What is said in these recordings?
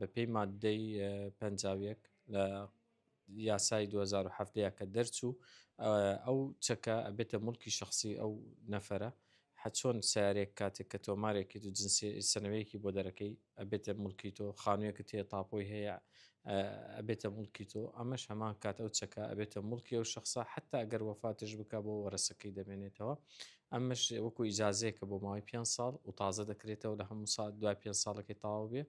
بەپێی ماددەی پەنجا و یەک لە یاسای دوو هەزار و حەڤدە کە دەرچوو ئەو چەکە ئەبێتە مڵکی شخصی ئەو نەفەرە حەچۆن سیارێک کاتێک کە تۆمارێکی و جنسی سنەوەیەکی بۆ دەرەکەی ئەبێتە ملکی تۆ خانوویەکە تێ تاپۆی هەیە ئەبێتە ملکی تۆ ئەمەش هەمان کات ئەو چەکە ئەبێتە ملکی ئەو شخصە حتا ئەگەر وەفاتش بک بۆ وەرەسەکەی دەمێنێتەوە ئەمەش وەکو ئیجازەیەکە بۆ ماوەی پێنج ساڵ و تازە دەکرێتەوە لە هەموو ساڵ دوای پێنج ساڵەکەی تەواو بێ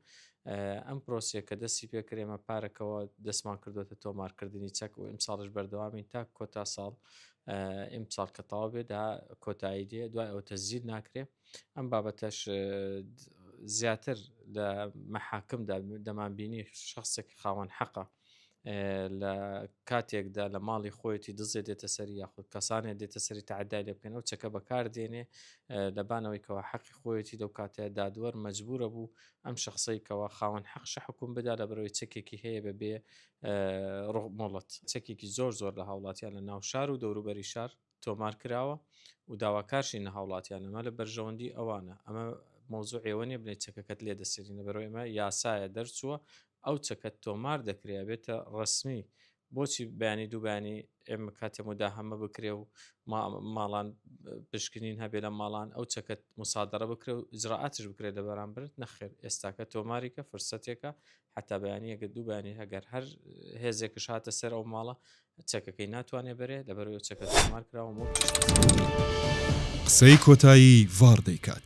ئەم پرۆسیە کە دەستی پێکرێمە پارەکەەوە دەستمان کردوێتە تۆمارکردنی چەک و ئیمساڵش بەردەوامین تا کۆتا ساڵ ئیمساڵ کە تاو بێ دا کۆتایی دێ دوای ئەو تەزیر ناکرێ ئەم بابەتەش زیاتر لە مەحاکمدا دەمان بینی شخصێک خاوەن حەقە لە کاتێکدا لە ماڵی خۆیەتی دزێ دێتە سەری یاخود کەسانێ دێتە سەری تعدای لێ بکەن ئەو چەکە بەکار دێنێ لەبانەوەی کەەوە حەقی خۆیەتی لەو کاتە دادوەر مەجبورە بوو ئەم شخصی کەەوە خاوەن حەقشە حکوم بدا لە بەرەوەی چەکێکی هەیە بە بێ ڕۆمۆڵەت چەکێکی زۆر زۆر لە هاوڵاتیان لە ناو شار و دەوروبەری شار تۆمار کراوە و داواکارشین لە هاوڵاتیان ئەمە لە بەرژەوەندی ئەوانە ئەمە مەوزوع ئێوە نیە بلێ چەکەکەت لێ دەسرین لە بەرەوەی ئەمە یاسایە دەرچووە ئەو چەکەت تۆمار دەکرێ ئەبێتە ڕەسمی بۆچی بەیانی دوو بەیانی ئێمە کاتێ مداهەمە بکرێ و ماڵان پشکنین هەبێ لە ماڵان ئەو چەکەت مسادرە بکرێ و ئجرڕاتش بکرێت لە بەرامبرت نەخێر ئێستاکە تۆماریکە فرسەتێکە حەتا بەیانی ئەگەر دوو بەیانی هەگەر هەر هێزێکش هاتە سەر ئەو ماڵە چەکەکەی ناتوانێ بەرێ لەبەرەوە چەکە زمار کراوە و قسەی کۆتایی ڤاڕ دەیکات.